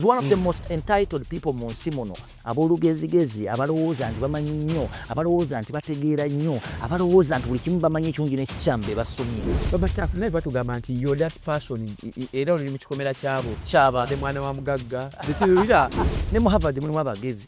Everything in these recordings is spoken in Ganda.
is one of the most entitled people mu nsi muno ab'olugezigezi abalowooza nti bamanyi nnyo abalowooza nti bategeera nnyo abalowooza nti buli kimu bamanyi ekyungi n'ekikyamu be basomye babatafu naye batugamba nti yo that person era oluli mu kikomera kyabo kyaba ne mwana wa mugagga betirira ne mu havard mulimu abagezi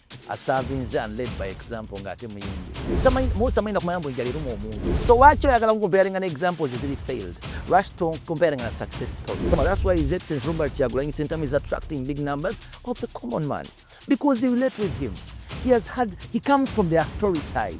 asavinze and led by example nga ate muyimbi musamanyi nakumanya mbu enjala eruma omuntu so waki oyagala kukomparinga ne examples eziri failed lwaki tokomparinga na success story that's why his excellence robert kyagulanyi sentamu is attracting big numbers of the common man because he relate with him he has had he comes from their story side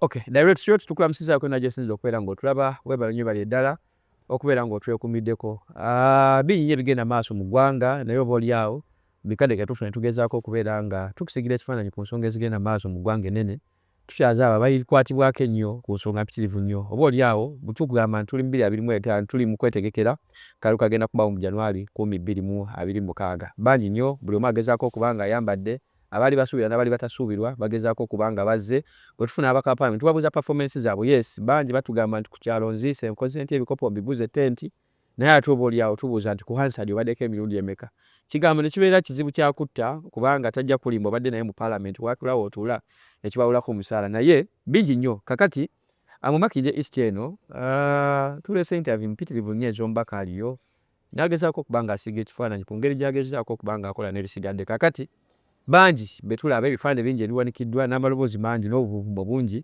Okay, direct shot tukula msiza kwena Jason Lokwera ngo tulaba webala nyo bali dala okubera ngo twe kumideko. Ah, uh, binyi bigenda maso mu gwanga nayo boli yao. Bikade ke tufuna tugeza ko kubera nga tukusigire tufana ni kunsonga zigenda maso mu gwanga nene. Tushaza baba ili kwati bwake nyo kunsonga pitirivu nyo. Oboli yao butuku ga man tuli mbili abili mwete an tuli mkwete gekera karu kagenda kubawo mu January kumi bili mu abili mukaga. Banji nyo buli omageza ko kubanga yambade. De. Abaali basuubira nabaali batasuubirwa bagezaako okuba nga bazze, bwetufuna ababaka ba parliament tubabuuza performance zaabwe, yes bangi batugamba nti kukyalo nziise, nkoze ntya ebikopo mbiguze tent, naye ate oba olyawo tubuuza nti ku Hansard obaddeko emirundi emeka? Kigambo nekibeera kizibu kya kutta kubanga tajja kukulimba obadde naye mu parliament watuula wotuula nekibawolako omusaala naye bingi nnyo kakati amumakidde east eno aah tuleese interview mpitirivu nnyo ezomubaka aliyo N'agezaako okuba ng'asiiga ekifaananyi ku ngeri gy'agezzaako okuba ng'akola n'ebisigadde. Kaakati, bangi be tulaba, ebifaananyi bingi ebiwanikiddwa, n'amaloboozi mangi, n'obubuvvumo bungi,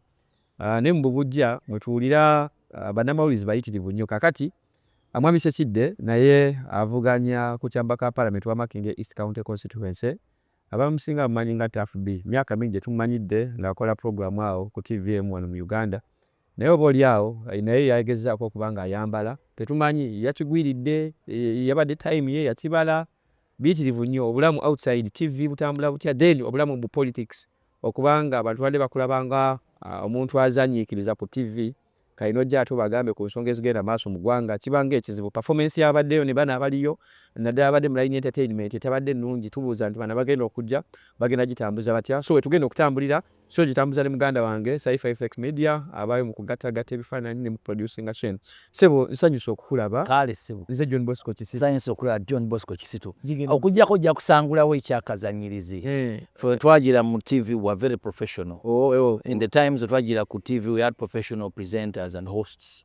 ne mu bubuggya mwe tuwulira bannamawulirize bayitirivu nnyo. Kaakati, Mwami Ssekidde naye avuganya ku kyampa ka Palamenti wa Makindye East County Constituency, abamusinga bamumanyi nga Taff Bee. Myaka mingi gye tumumanyidde ng'akola pulogulaamu awo ku ttivi emu wano mu Uganda. Naye oba oli awo naye yagezaako okuba nga ayambala, tetumanyi yakigwiridde, yabadde time ye yakibala, biyitirivu nnyo obulamu outside TV butambula butya then obulamu mbu politics okuba nga abantu babadde bakulaba nga omuntu azanyiikiriza ku TV kati nojja ate obagambe ku nsonga ezigenda maaso mu gwanga kiba nga ekizibu, performance yabaddeyo ne bano abaliyo naddala ababadde mu line entertainment etabadde nnungi tubuuza nti bano abagenda okujja bagenda gitambuza batya so wetugenda okutambulira. Show gitambuza ne muganda wange Saifa FX Media abaayo mu kugattagatta ebifaananyi ne mu producinga Shane. Ssebo nsanyuse okukulaba. Kaale ssebo. Nze John Bosco Kisitu. Nsanyuse okulaba John Bosco Kisitu. Okuggyako ojja kusangulawo ekyakazannyirizi. Ffe bwe twajjira mu TV we were very professional. In the times we twajjira ku TV we had professional presenters and hosts.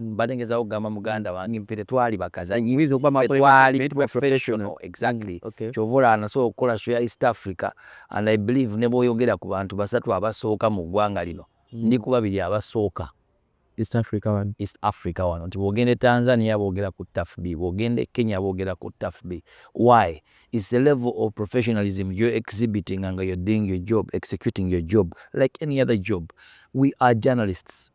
Mbadde ngezaako kugamba muganda wange ffe tetwali bakazanyi, tetwali professional exactly kyova olaba nasobola okukola show ya East Africa and I believe ne bwoyogera ku bantu basatu abasooka mu ggwanga lino ndi ku babiri abasooka East Africa wano, East Africa wano nti bwogenda e Tanzania boogera ku TAFB, bwogenda e Kenya boogera ku TAFB. Why? It's a level of professionalism you're exhibiting and you're doing your job, executing your job like any other job. We are journalists.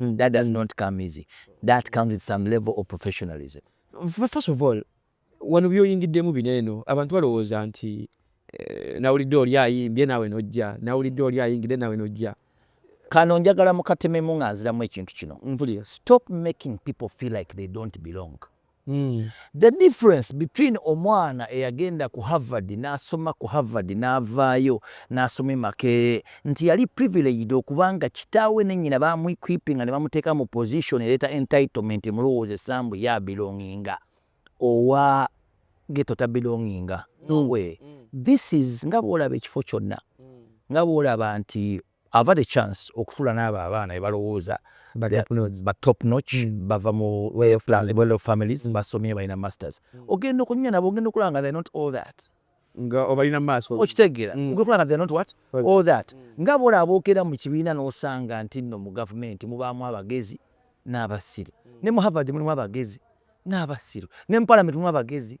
Mm, that does not come easy. That comes with some level of professionalism. First of all, wano byoyingiddemu bino eno abantu balowooza nti eh, nawulidde oli ayimbye naawe nojja nawulidde oli ayingidde naawe nojja kano njagala mukatememu nga nziramu ekintu kino mpulira stop making people feel like they don't belong The difference between omwana eyagenda ku Harvard n'asoma ku Harvard n'avaayo n'asoma e Makerere nti yali privileged okuba nga kitaawe ne nnyina baamuequipinga ne bamuteeka mu position ereeta entitlement emulowoozesa mbu ye abelonginga owa ghetto tabelonginga. No way. This is nga bw'olaba ekifo kyonna nga bw'olaba nti I've had a chance okutula n'abo abaana bebalowooza ba top notch, bava mu well off families, basomye balina masters, ogenda okunyumya nabo ogenda okulaba nga they're not all that. Nga obalina maaso. Okitegeera, ogenda okulaba nga they're not what? All that. Nga bole aboogera mu kibiina n'osanga nti nno mu gavumenti mubaamu abagezi n'abasiru. Ne mu Harvard mulimu abagezi n'abasiru. Ne mu palamenti mulimu abagezi.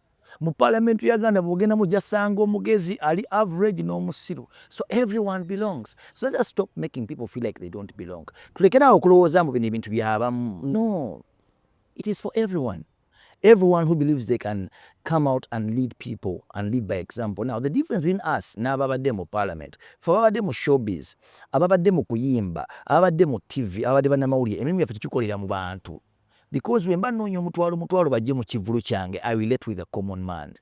Mu parliament ya Uganda bwogenda mu jasanga omugezi ali average n'omusiru so everyone belongs so let us stop making people feel like they don't belong tulekere awo okulowooza mbu bino ebintu byabamu no it is for everyone everyone who believes they can come out and lead people and lead by example. Now, the difference between us n'ababadde mu parliament, fe ababadde mu showbiz, ababadde mu kuyimba, ababadde mu TV, ababadde bannamawulire, emirimu gyaffe tugikolera mu bantu. because bwemba nnoonya omutwalo mutwalo bajje mu kivvulu kyange i relate with a common man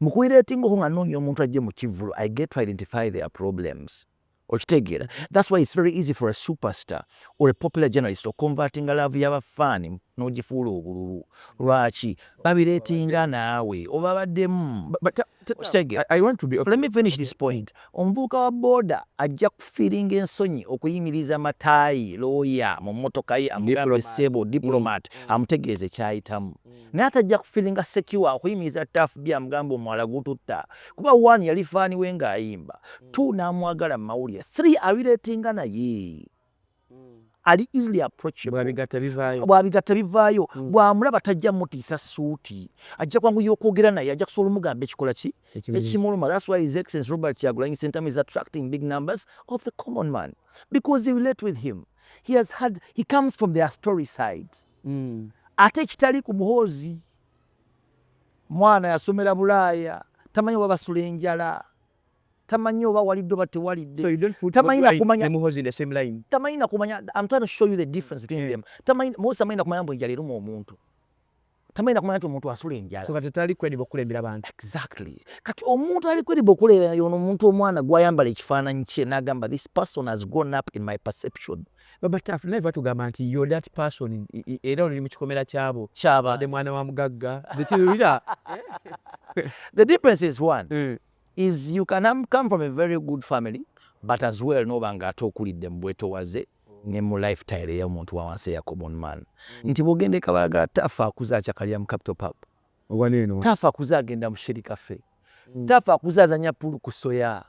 mu kuiretingako nga nnoonya omuntu ajje mu kivvulu i get to identify their problems okitegeera thats why its very easy for a superstar or a popular journalist oconvertinga laavu y'abafaani n'ogifuula obululu lwaki babireetinga naawe obabaddemu Omuvubuka wa boda ajja kufiiringa ensonyi okuyimiriza Matayi looya mu mmotoka ye amugambe ssebo, Diplomat, amutegeeze ky'ayitamu. Naye ate ajja kufiiringa secure okuyimiriza Tuff B amugambe omwala gututta kuba one yali fan we ng'ayimba, two n'amwagala mu mawulire, three abireetinga naye. ali easily approachablebigatta bivaayo hmm. bwamulaba tajja mutiisa suuti ajja kwanguya okwogera naye ajja kusobola omugamba ekikola ki ekimuluma thats why his excellence robert kyagulanyi sentamu is attracting big numbers of the common man because he relate with him he has had he comes from their story side hmm. ate ekitali ku muhoozi mwana yasomera bulaaya tamanyi wabasula enjala tamanyi oba walidde oba tewalidde so you don't put tamanyi na kumanya ne muhozi in the same line tamanyi na kumanya i'm trying to show you the difference between mm. them tamanyi muhozi tamanyi na kumanya mbu enjala eruma omuntu tamanyi na kumanya nti omuntu asula enjala so kati tali kwediba okulembera abantu exactly kati omuntu ali kwediba okulembera yono omuntu omwana gwayambala ekifaananyi kye nagamba this person has gone up in my perception Baba Taff naye batugamba nti you're that person era oli mu kikomera kyabo kyaba de mwana wa mugagga bitirira the difference is one mm. is you can um, come from a very good family but as well noba nga ate okulidde mu bwetowaze ne mu lifetile ey'omuntu wa wansi eya common man mm. nti bw'ogenda e Kabaga Taff akuze akyakalira mu Capital Pub Tafa kuze agenda mu sheri cafe tafa kuze azanya pool ku soya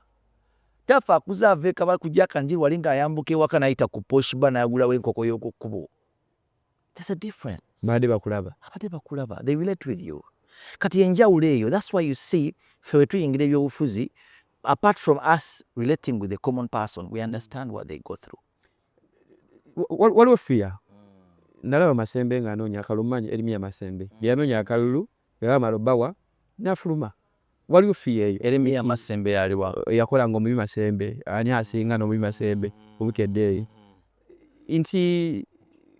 tafa kuze ava ekabala ku jaka njiru wali nga ayambuka ewaka nayita ku posh bar nagulawo enkoko yokukkubo there's a difference bade bakulaba abade bakulaba they relate with you kati enjawulo eyo that's why you see fe wetuyingira ebyobufuzi apart from us relating with the common person we understand what they go through waliwo fiya hmm. nalaba masembe nga anoonya akalulu manyi erimiya masembe hmm. byanoonya akalulu yabamala obawa nafuluma waliwo fiya eyo erimiya masembe yaliwa yakola nga omubi masembe ani asinga nomubi masembe hmm. obukedde eyo nti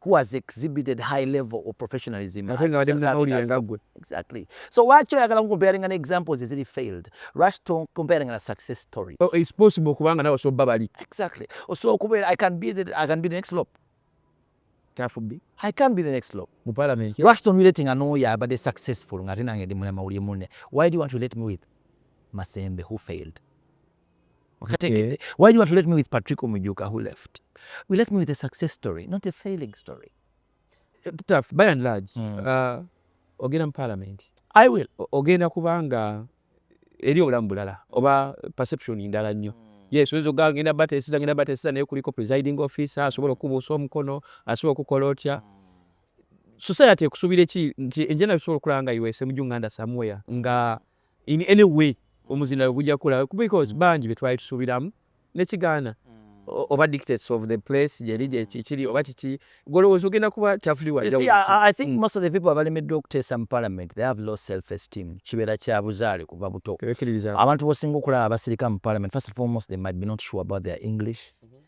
who has exhibited high level of professionalism exactly so lwaki oyagala nkukomparinga ne examples eziri failed lwaki tokomparinga na success story so oh, it's possible kubanga nawe osobola bali exactly osobola okubeera i can be the, i can be the next lop tafubbi i can be the next lop mu parliament lwaki tonwiletinga n'oyo abadde successful ng'ate nange ndi mulema uli munne why do you want to let me with masembe who failed Okay. Why do you want to let me with Patrick Omujuka who left? We left me with a success story, not a failing story. Tough, by and large, mm. uh, ogenda mu parliament. I will. Ogenda kubanga eri obulamu bulala oba perception ndala nnyo. Mm. Yes, oyinza okugaa ngenda batesiza ngenda batesiza naye kuliko presiding officer asobola okukubuusa omukono asobola okukola otya. Mm. Society ekusuubira ki nti enjena bisobola okulaba nga iwese mu junganda somewhere nga in any way omuzindalo gujja kukula because bangi betwali tusubiramu nekigaana oba dictates of the place gyeri gyekikiri oba kiki golowooza ogenda kuba kyafuli wajja wuti i think mm. most of the people abalemeddwa okuteesa mu parliament they have low self esteem kibeera kya buzaale kuva buto abantu bosinga okulaba abasirika mu parliament first and foremost they might be not sure about their english mm -hmm.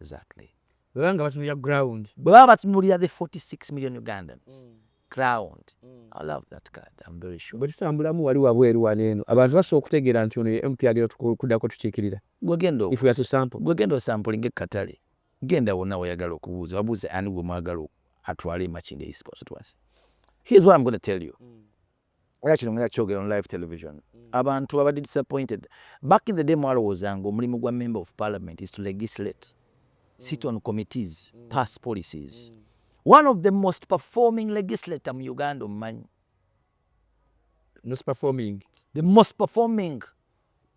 Exactly. Bwebaba nga batunulira ground. Bwebaba batunulira the 46 million Ugandans. Mm. Ground. Mm. I love that card. I'm very sure. Bwetutambulamu wali wabweru wano eno. Abantu basobola okutegeera nti ono ye MP agenda kuddako tukiikirira. Gwegenda If we are to sample. Gwegenda osampulinga ekkatale. Genda wonna wayagala okubuuza. Wabuuze ani gwe mwagala atwale e Makindye East Constituency. Here's what I'm going to tell you. Mm. era kino nga kyogera on live television mm. abantu babadde disappointed back in the day mwalowooza nga omulimu gwa member of parliament is to legislate mm. sit on committees mm. pass policies one of the most performing legislator mu uganda omumanyi the most performing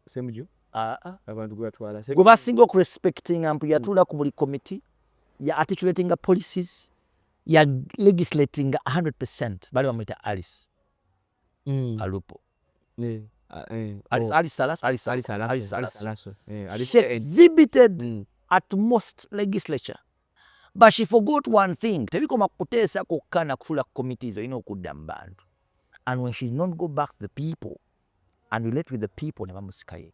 semuju ah, ah. abantu gwatwala gwe basinga okurespectinga mpu yatuula ku buli committee ya articulatinga policies ya legislatinga 100% bali bamuyita alice mm. alupo yeah. She exhibited mm. at most legislature but she forgot one thing tebikoma kuteesa kokka nakutula committees olina okudda mu bantu and when she not go back to the people and relate with the people nebamusikaye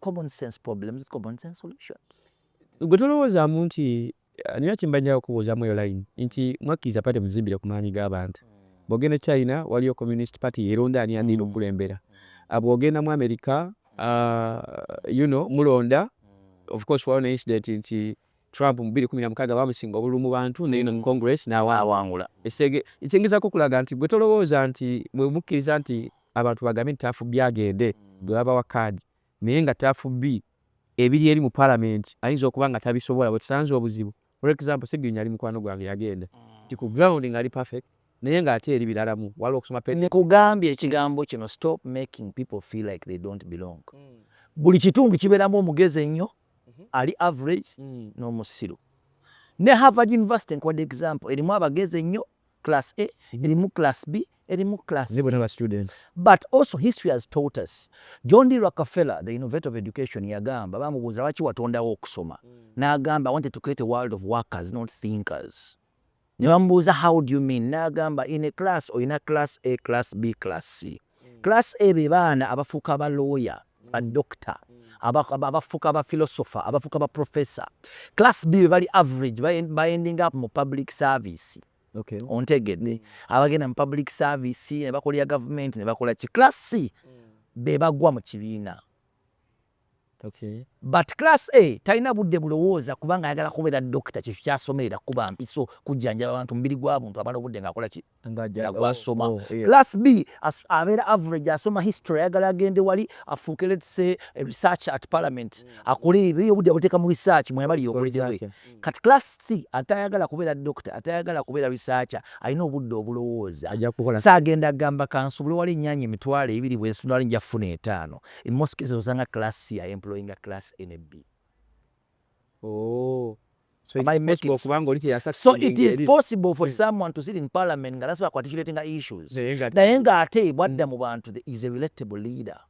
common sense problems with common sense solutions gwe tolowoozamu nti eh, nina kyemba njala okubuuzamu eyo line nti mwakkiriza pate muzimbire ku maanyi g'abantu hmm. bwogenda e china waliyo communist party yeronda ani agenda hmm. okukulembera hmm. ah, bwogenda mu america ah, you know mulonda of course waliwo ne incident nti Trump mu bbiri kkumi na mukaaga baamusinga obululu mu bantu ne Union Congress n'awangula. Ekitegeza kukulaga nti gwe tolowooza nti bwe mukkiriza nti abantu bagambe nti Tafubbi agende gwe babawa kaadi naye nga Tafubbi ebiri eri mu Palamenti ayinza okuba nga tabisobola wetusanze obuzibu. For example Ssegirinya yali mukwano gwange yagenda nti ku ground ng'ali perfect naye ng'ate eri biralamu waliwo okusoma pe. Nkugambye ekigambo kino stop making people feel like they don't belong buli kitundu kibeeramu omugezi ennyo ali average mm. n'omusiru ne Harvard University nkuwadde example erimu abagezi ennyo class A mm-hmm. erimu class B erimu class but also history has taught us John D Rockefeller the innovator of education yagamba bamubuuza lwaki watondawo okusoma mm. n'agamba I wanted to create a world of workers not thinkers Ne bamubuuza how do you mean n'agamba in a class olina class A, class B, class C. Class A be baana abafuuka ba lawyer, ba doctor, abafuuka ba philosopher, abafuuka ba professor. Class B be bali average ba ending up mu public service. Ontegedde? Abagenda mu public service ne bakolera gavumenti ne bakola ki. Class C be bagwa mu kibiina. But class A talina budde bulowooza kubanga ayagala kubeera doctor kyekyo kyasomerera kukuba mpiso kujjanjaba bantu mubiri gwa buntu amala obudde nga akola ki nga gwasoma. Oh, oh, class B abeera average asoma history ayagala agende wali afuuke let's say research at parliament mm. akole ebyo obudde abuteeka mu research mweyabali yokoledewe kati class th atayagala kubeera dokita atayagala kubeera researcher alina obudde obulowooza saagenda agamba kansubule wali ennyanya emitwalo ebiri bwensudali nja kufuna etaano in most cases osanga class c ya employinga class a ne b oh. So it, is possible, so it is possible for hmm. someone to sit in parliament nga nasobola ku articulatinga issues naye nga ate bwadda mu bantu is a relatable leader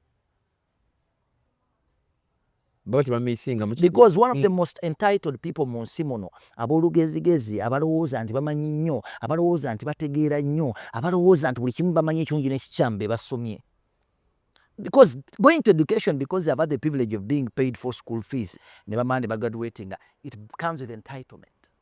because one of the mm. most entitled people mu nsi muno ab'olugezigezi abalowooza nti bamanyi nnyo abalowooza nti bategeera nnyo abalowooza nti buli kimu bamanyi ekirungi n'ekikyamu be basomye because going to education because they have had the privilege of being paid for school fees ne bamala ne bagraduatinga it comes with entitlement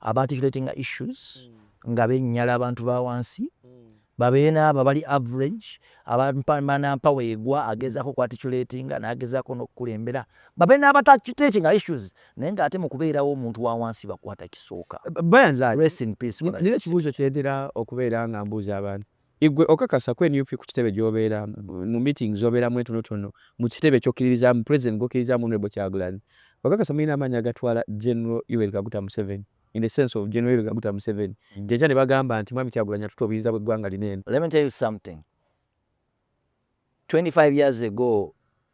aba articulating issues nga benyala abantu bawansi babeere naabo abali average abanampower egwa agezaako ku articulatinga nagezaako nokukulembera babeere n'abatakitekinga issues naye nga ate mukubeerawo omuntu wawansi bakwata kisooka nina ekibuuzo kyentera okubeera nga mbuuza abantu Igwe okakasa ku nup kukitebe gyobera mu meetings zoberamu entonotono mukitebe kyokiririzamu president gwokirizamu honorable kyagulanyi okakasa mulina amaanyi agatwala general yoweri kaguta museveni in the sense of general yoweri kaguta museveni jenkya nebagamba nti mwami kyagulanyi atutte obuyinza bweggwanga lino eno Let me tell you something 25 years ago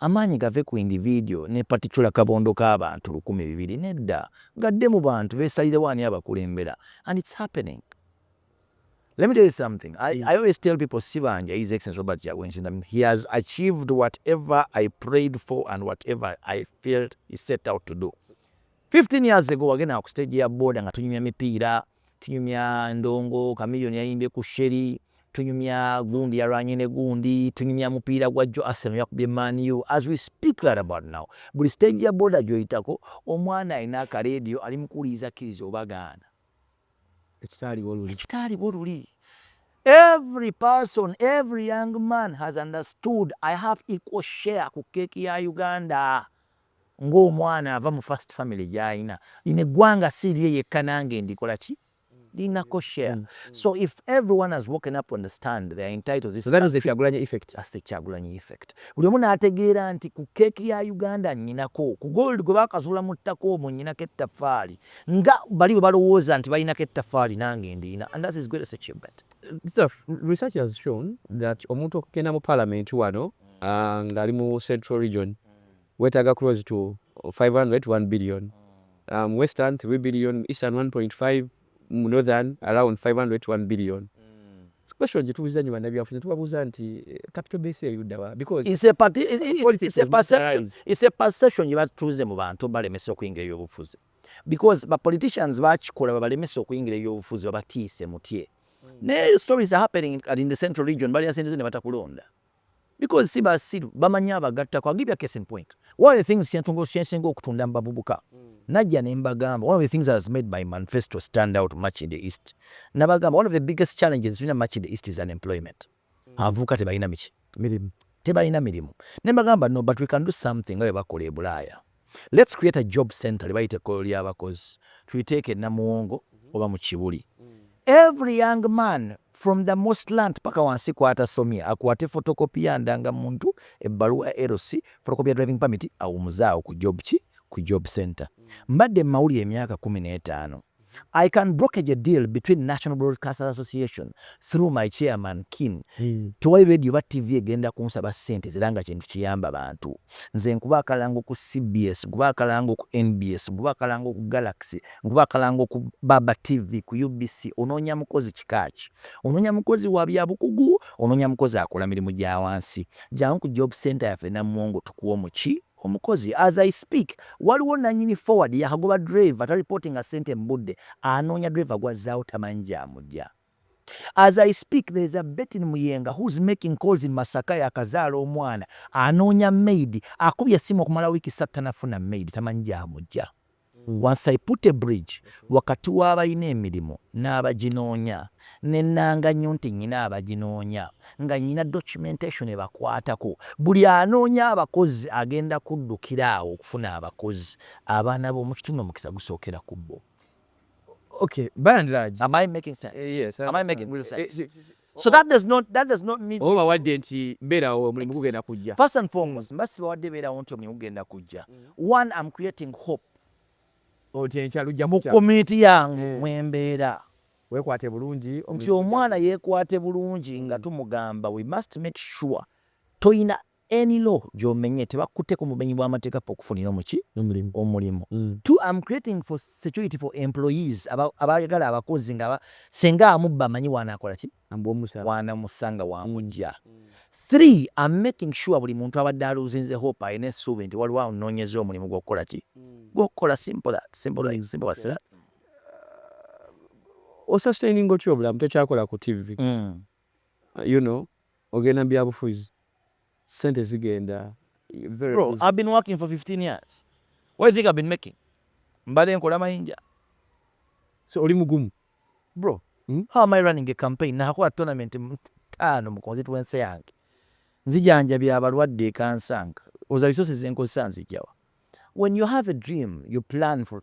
Amaanyi gave ku individual ne particular kabondo ka bantu lukumi bibiri nedda gadde mu bantu besalirewo ani abakulembera and it's happening let me tell you something I, I always tell people sibanja his excellence Robert Kyagulanyi he has achieved whatever I prayed for and whatever I felt he set out to do 15 years ago wagenda ku stage ya boda nga tunyumya mipiira Tunyumya ndongo Chameleone yayimbye ku Sheri, tunyumya gundi yalwanye ne gundi, tunyumya mupiira gwa jjo Arsenal yakubye Man U as we speak right about now. Buli stage ya boda gyoyitako omwana alina aka radio ali mu kuwuliriza akkiriza oba gaana. Ekitaaliwo luli kitaaliwo luli. Every person, every young man has understood I have equal share ku cake ya Uganda. nga omwana ava mu first family gyayina lino eggwanga si lirye yekka nange ndikola ki linako share so if everyone has woken up to understand they are entitled this that is the kyagulanyi effect that's the kyagulanyi effect buli omu nategeera nti ku cake ya uganda nyinako ku gold gwe bakazula mu ttaka omwo nyinako ettafaali nga bali bwe balowooza nti balinako ettafaali nange ndiyina and that's his greatest achievement research has shown that omuntu okugenda mu parliament wano mm. ah, ngali mu central region wetaaga close to five hundred to one billion mu western three billion mu eastern one point five mu northern around five hundred to one billion question gyetubuuza nyo bannabyafuzi netubabuuza nti capital base eyo ddawa because it's a party it's a perception it's a perception yebatuuze mu bantu balemesa okuyingira ebyobufuzi because ba politicians bakikola babalemesa okuyingira ebyobufuzi babatiise mutye naye stories are happening in the central region balyasindize nebatakulonda Because si basiru bamanyi abagattako. I'll give you a case in point. One of the things kyentungo kyensinga okutunda mu bavubuka najja ne mbagamba one of the things has made my manifesto stand out much in the east nabagamba one of the biggest challenges tulina much in the east is unemployment. Abavubuka tebalina miki mirimu tebalina mirimu ne mbagamba no but we can do something nga bwe bakola e Bulaaya. Let's create a job center lyebayita ekkolero lyabakozi tuliteeke e Namuwongo oba mu Kibuli. Every young man from the most land paka wansi kwatasomye akwate photocopy ya ndanga muntu ebbaluwa ya LC photocopy ya driving permit awumuze awo ku job ki ku job center. Mbadde mu mawulire emyaka kumi n'etaano. I can brokerage a deal between National Broadcasters Association through my chairman Kim. Mm. Tewali radio ba TV egenda kunsaba sente ziranga kintu kiyamba bantu. Nze nkuba akalango ku CBS, nkuba akalango ku NBS, nkuba akalango ku Galaxy, nkuba akalango ku Baba TV, ku UBC. Ononya mukozi kikachi. Ononya mukozi wa bya bukugu, ononya mukozi akola mirimu gya wansi. Jangu ku job center ya fe na mwongo tukuwo muchi. Omukozi as I speak waliwo nanyini forward yakagoba driver ta reportinga sente mubudde anoonya driver gwazzaawo tamanyi gyamujja as I speak there is a Bettin Muyenga who's making calls in Masaka yakazaala omwana anoonya maid akubye essimu okumala wiiki ssatu tanafuna maid tamanyi gyamujja. Once I put a bridge wakati w'abalina emirimu n'abaginoonya, ne nnanga nnyo nti nnina abaginoonya, nga nnina documentation ebakwatako. Buli anoonya abakozi agenda kuddukira awo okufuna abakozi. Abaana b'omu kitundu omukisa gusookera ku bo. Okay, by and large. Am I making sense? Yes. Am I making real sense? So that does not that does not mean oba wadde nti beerawo omulimu gugenda kujja. First and foremost, mba sibawadde beerawo nti omulimu gugenda kujja. Mm. One, I'm creating hope. Oti enkya lujja mu community yange eh. mwe mbeera. Weekwate bulungi. Nti omwana yeekwate bulungi nga mm. tumugamba we must make sure toyina Any law gyomenye tebakute ku bumenyi bwa mateeka ffe okufunira omuki omulimu two am creating for security for employees aba abayagala abakozi nga aba senga amubba amanyi wanakolaki wanamusanga wamugya three am making sure buli muntu abadde aluzinze hope alina esuubi nti waliwo anonyeza omulimu gwokukolaki gwokukola simple that simple like simple what's that. Osustaininga otya obulamu tokyakola ku TV. You know ogenda mubyabufuzi sente zigenda very Bro easy. I've been working for 15 years what you think I've been making mbade nkola mayinja. So oli mugumu. Bro hmm? how am I running a campaign nakola tournament taano mu constituency yange nzijanjabya abalwadde ekansanga oza resources zenkozesa nzijjawa when you have a dream you plan for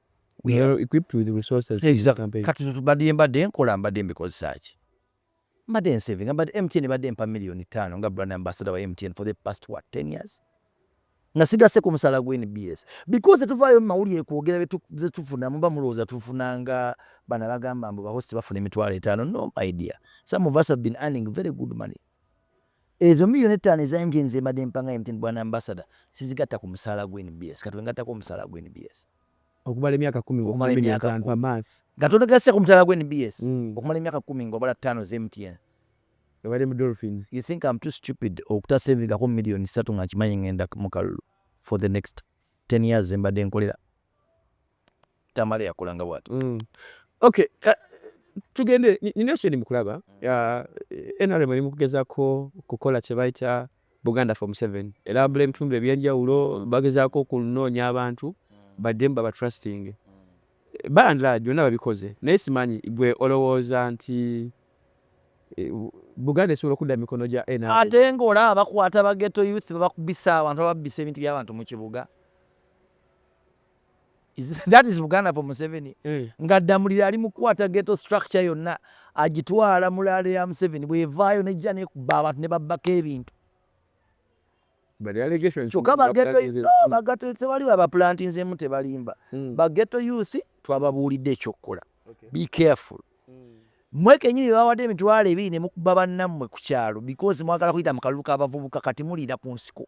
kati tubadde mbadde nkola mbadde mbikozesa ki mbadde nsavinga mbadde mtn ebadde mpa miliyoni ttaano nga brand ambassador wa mtn for the past what 10 years nga sigase ku musaala gwa nbs because tuvaayo mumawulire kwogera zetufuna muba mulowooza tufuna nga bana bagamba mbu bahost bafuna emitwalo etaano no my dear some of us have been earning very good money Ezo million ettaano eza MTN zembadde mpa nga MTN bwana Ambassador sizigatta ku musaala gwo nbs kati wengattako omusaala gwo nbs okumala emyaka kumi okumala emyaka kumi nga togasse ku musaala gwo nbs okumala emyaka kumi nga obala ttaano za MTN ebadde mu Dolphins. You think am too stupid okuta savingako million ssatu nga nkimanyi ngenda mukalulu for the next ten years zembadde nkolera Tamale yakolanga bwati. Mm. Okay, uh, tugende nina ekyo mu kulaba uh, NRM eri mu kugezaako kukola kye bayita Buganda for Museveni era abula ebitundu ebyenjawulo bagezaako okunoonya abantu baddemu babatrustinge bandla byonna babikoze naye simanyi gwe olowooza nti eh, Buganda esobola okudda mu mikono gya NRM ate ng'olaba bakwata bageto youth babakubisa abantu bababbisa ebintu by'abantu mu kibuga that is buganda for museveni eh. nga ddamulira ali mukukwata geto structure yonna agitwala mu laale ya museveni bwevaayo nejja nekuba abantu ne babbako ebintu kyokka bagetobagatetewali babaplantinzemu tebalimba hmm. bageto youth twababuulidde ekyokukola be careful hmm. mwe kenyini bebawadde emitwalo ebiri nemukuba bannammwe ku kyalo because mwagala kuyita mu kalulu k'abavubuka kati muliira ku nsiko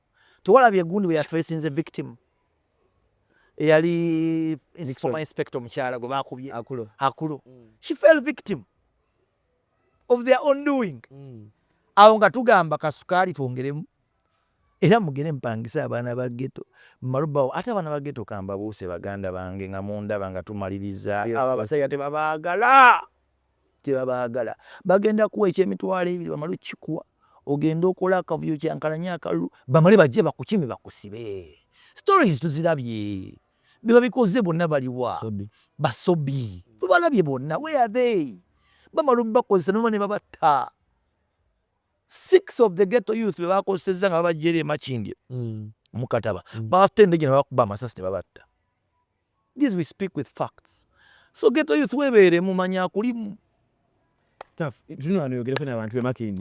Tewalabye gundi bwe ya facinze victim eyali former inspector omukyala gwe baakubye Akulo. She fell victim of their own doing. Awo nga tugamba kasukaali twongeremu era mugere mpangise abaana ba geto malubawo ate abaana ba geto kambabuuse baganda bange nga mundaba nga tumaliriza abo abasajja tebabaagala. tebabaagala bagenda kuwa ekyemitwalo ebiri bamale okukikuwa ogende okola akavuyo kyankalanye akalulu bamale bajje bakukime bakusibe stories tuzirabye bebabikoze bonna baliwa basobi tubalabye bonna weyathey bamala obakozesa noba ne babatta six of the ghetto youth bebakozesezza nga babajjeera emakindye mm. mukataba mm. baafute endege nebakuba amasasi nebabatta This we speak with facts. So ghetto youth webeere mumanya akulimu.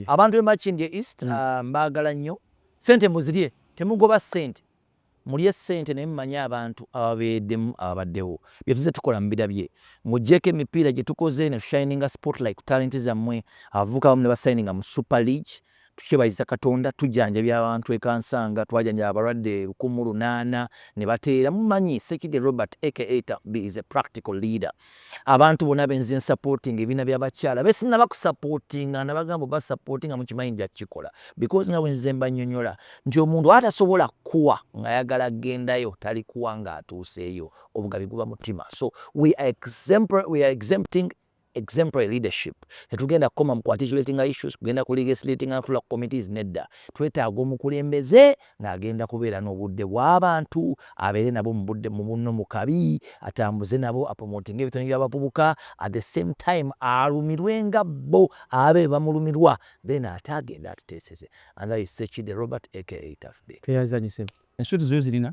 Abantu be Makindye East mm. ah, mbagala nnyo. Sente muzirye, temugoba sente. Mulye sente naye mumanye abantu ababeedemu ababaddewo. Byetuze tukola mubirabye. Mujeko emipiira gyetukoze ne shininga spotlight ku talent zammwe. Abavubuka bamu ne basayininga mu Super League. Tukyebaziza Katonda tujjanjabye abantu e Kansanga, twajanjaba abalwadde lukumu lunaana ne bateera. Mumanyi Ssekidde Robert aka Taffby is a practical leader. Abantu bona be nze nsapootinga ebibiina by'abakyala be sinnaba kusapootinga nabagamba oba sapootinga mukimanyi nja kukikola because nga bwe nze mbanyonyola nti omuntu atasobola kukuwa ng'ayagala kugendayo talikuwa ng'atuuseeyo obugabi guba mutima so we are exempting exemplary leadership. Tetugenda kukoma mu kuarticulatinga issues, kugenda ku legislatinga na kutula ku committees, nedda. Twetaaga omukulembeze nga agenda kubeera n'obudde bw'abantu, abeere nabo mu budde mu bunno mu kabi, atambuze nabo, apromotinge ebitone by'abavubuka, at the same time alumirwe nga bbo abe bamulumirwa, then ate agende atuteeseze. And that is Ssekidde Robert aka Tough Bee. Tweyanzizza nnyo ssebo. Ensuti zozirina?